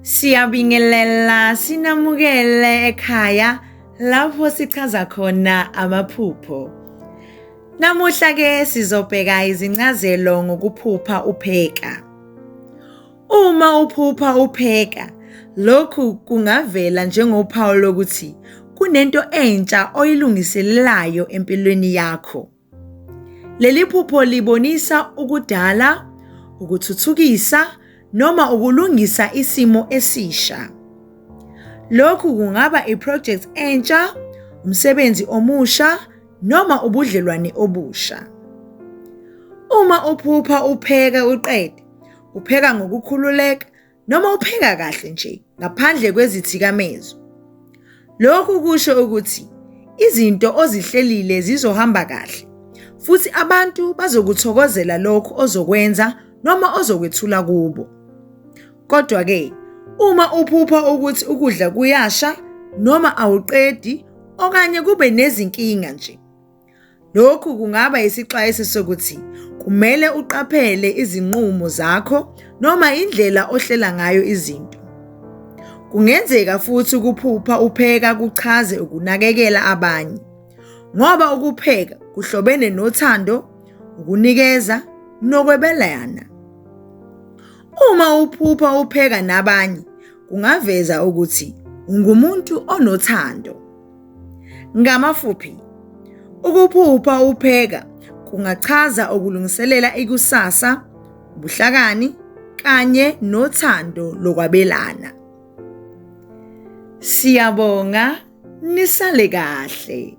Siyabingelela sinamukele ekhaya lapho sichaza khona amaphupho. Namuhla ke sizobheka izincazelo ngokuphupha upheka. Uma uphupha upheka, lokhu kungavela njengophawu lokuthi kunento entsha oyilungiselelayo empilweni yakho. Leli phupho libonisa ukudala, ukuthuthukisa noma ukulungisa isimo esisha. Lokhu kungaba iproject entsha, umsebenzi omusha noma ubudlelwane obusha. Uma uphupha upheka uqede upheka ngokukhululeka noma upheka kahle nje ngaphandle kwezithikamezo. Lokhu kusho ukuthi izinto ozihlelile zizohamba kahle futhi abantu bazokuthokozela lokho ozokwenza noma ozokwethula kubo. Kodwa ke uma uphupha ukuthi ukudla kuyasha noma awuqedi okanye kube nezinkinga nje Lokhu kungaba isixwayiso sokuthi kumele uqaphele izinqumo zakho noma indlela ohlela ngayo izinto. Kungenzeka futhi ukuphupha upheka kuchaze ukunakekela abanye, ngoba ukupheka kuhlobene nothando, ukunikeza nokwebelana. Uma uphupha upheka nabanye, kungaveza ukuthi ungumuntu onothando. Ngamafuphi, ukuphupha upheka kungachaza ukulungiselela ikusasa, ubuhlakani kanye nothando lokwabelana. Siyabonga nisale kahle.